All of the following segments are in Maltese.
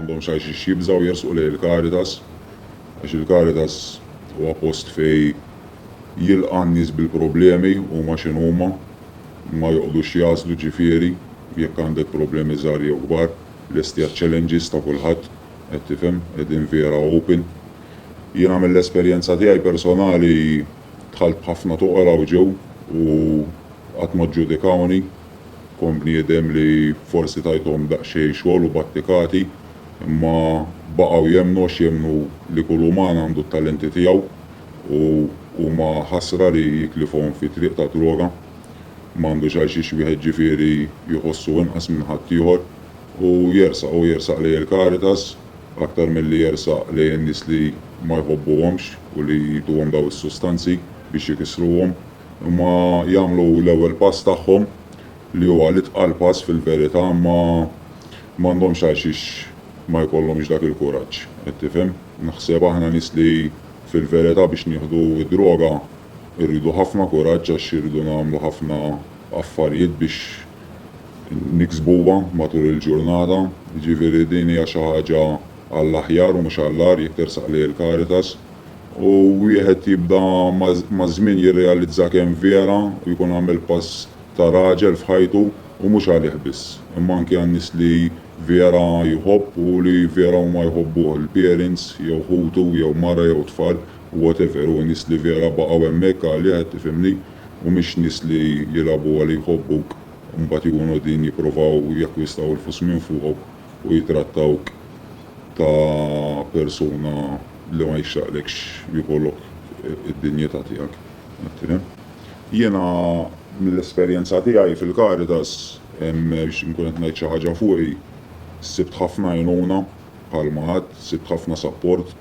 M'għandhomx għalxiex jibżgħu jersqu lejn il-Caritas għax il-Caritas huwa post fejn jilqa' n-nies bil-problemi huma x'inhuma, ma joqgħdux jagħżlu ġifieri jekk għandek problemi żgħar jew kbar, lesti għaċ-challenges ta' kulħadd, qed tifhem, qegħdin vera open. Jiena mill-esperjenza tiegħi personali dħalt b'ħafna toqra u ġew u qatt ma ġġudikawni. Kont bniedem li forsi tajthom daqsxejn xogħol u battikati, imma baqgħu jemmnu għax jemmnu li kull uman għandu t-talenti tiegħu u huma ħasra li jitlifhom fi triq tad-droga. M'għandux għal xiex wieħed ġifieri jħossu inqas minn ħaddieħor u jersaq u jersaq lejn il-Caritas aktar milli jersaq lejn in-nies li ma jħobbuhomx u li jtuhom dawn is-sustanzi biex jkissruhom. Huma jagħmlu l-ewwel pass tagħhom, li huwa l-itqal pass fil-verità, imma m'għandhomx għalxiex ma jkollhomx dak il-kuraġġ. Qed tifhem? Naħseb aħna nies li fil-verità biex nieħdu d-droga rridu ħafna kuraġġ għax irridu nagħmlu ħafna affarijiet biex niksbuha matul il-ġurnata. Jiġifieri din hija xi ħaġa għall-aħjar u mhux għall-agħar jekk tersaq lejn il-Caritas. U wieħed jibda maż-żmien jirrealizza kemm vera u jkun għamel pass ta' raġel f'ħajtu u mhux għalih biss, imma anki għan-nies li vera jħobb u li vera huma jħobbuh, il-parents jew ħutu jew mara jew tfal u whatever, u nies li vera baqgħu hemmhekk għalih, qed tifhimni, u mhix nies li jilgħabu għal jħobbuk u mbagħad jkunu qegħdin jippruvaw jakkwistaww il-flus minn fuqok. u jittrattawk ta' persuna li ma jixraqlekx jkollok id-dinjità tiegħek. Jiena mill-esperjenza tiegħi fil-Caritas, biex inkun qed ngħid xi ħaġa fuqi, sibt ħafna għajnuna bħalma għedt, sibt ħafna sapport,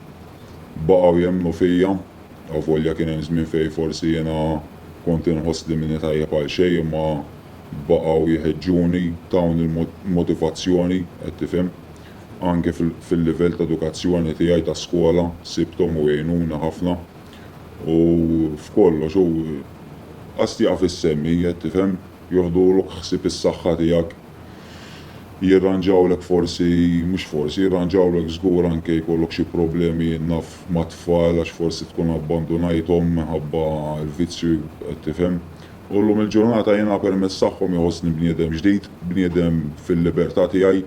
baqgħu jemmnu fija, avolja kien hemm żmien fejn forsi jiena kont inħossli m'inietajjeb għal xejn imma, Baqgħu jħeġġuni, tawni l-motivazzjoni, qed tifhem. Anke fil-livell ta' edukazzjoni tiegħi ta' skola sibthom u għinuni ħafna. U f'kollox hu qast jaqaf is-semmi, qed tifhem, joħdulok ħsieb is-saħħa tiegħek. Jirranġawlek forsi, mhux forsi, jirranġawlek żgur anke jkollok xi problemi jien naf mat-tfal għax forsi tkun abbandunajthom minħabba l-vizzju, qed tifhem. U llum il-ġurnata jiena permezz tagħhom iħossni bniedem ġdid, bniedem fil-libertà tiegħi,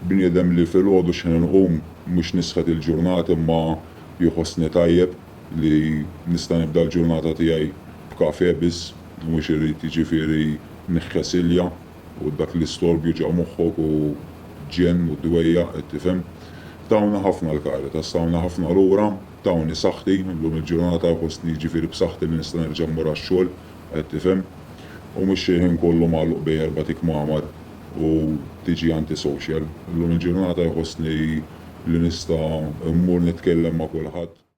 bniedem li filgħodu x'ħin inqum mhux nisħet il-ġurnat imma jħossni tajjeb li nista' nibda l-ġurnata tiegħi b'kafè biss u mhux irrid jiġifieri niħħes ilja u dak l-istorb juġa' moħħok u ġenn u dwejjaq qed tifhem. Tawna ħafna l-Caritas, tawna ħafna lura. Tawni saħħti, llum il-ġurnata fostni jiġifieri b'saħħti li nista' nerġa' mmur għax-xogħol, qed tifhem, u mhux xi ħin kollu magħluq bejn erbat ikmamar u tiġi anti-social. Llum il-ġurnata jħossni li nista' mmur nitkellem ma' kulħadd.